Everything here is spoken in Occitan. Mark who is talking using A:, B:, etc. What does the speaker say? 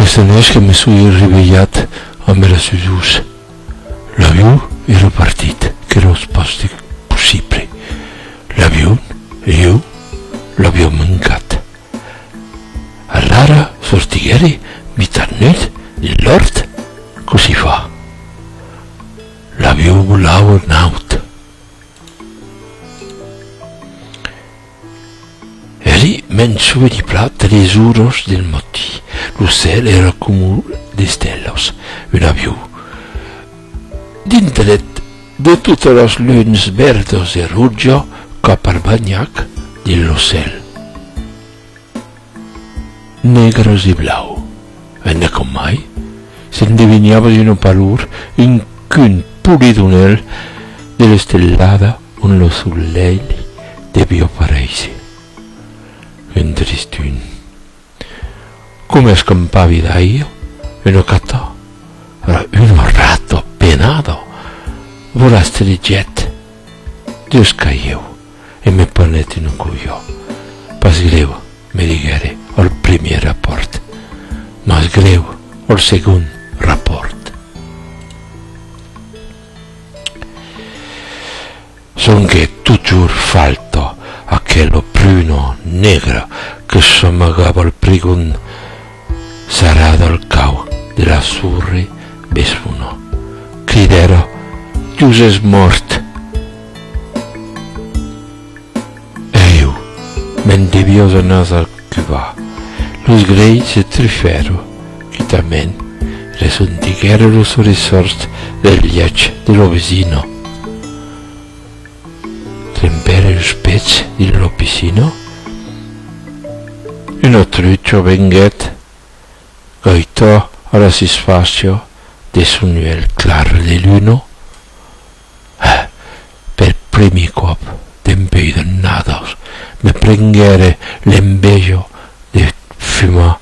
A: Aqueste anèch que me soi revelhat amb era sudors, l'avion èra partit que era eth pòste possible. L'avion e jo l'aviam mancat. Alara sortiguère mitat nut dins l'òrt, cossí fa. L'avion volaue naut. Eri mens sube li plat de les uros del moti, lo cèl èra comu d'estelas, un aviu. Dindret de totas las luns verdas e roja cap al banhac de lo cèl. Negras e blau. Enda com mai, s'endeviniava de no palur un cun polidonèl de l'estelada ont lo solelh devió paréisser. Un tristun. Coma escampavi d'aire, una cata, era una rata penada, volastrejèt deus cailheu. e me ponèt un colhó. Pas grèu, me diguère al primièr rapòrt, mas grèu al segon rapòrt. Sonque totjorn falta aquela pruna negra que s'amagava al prigon. Sarrada al cau de la surre Besfonó, cridèra, Dius es mòrt! Èiu, me'n deviós anar al Cubà. Los grei se trifèro, quitament, resondiguèra los sorrisòrds del lièch de lo vesino. trempèr eus pètz dins lo piscina, un autrucho venguèt gaitar a la susfàcia de son uèlh clar de luna, e, per primi còp dempèi d'annadas, me prenguère l'enveja de fumar.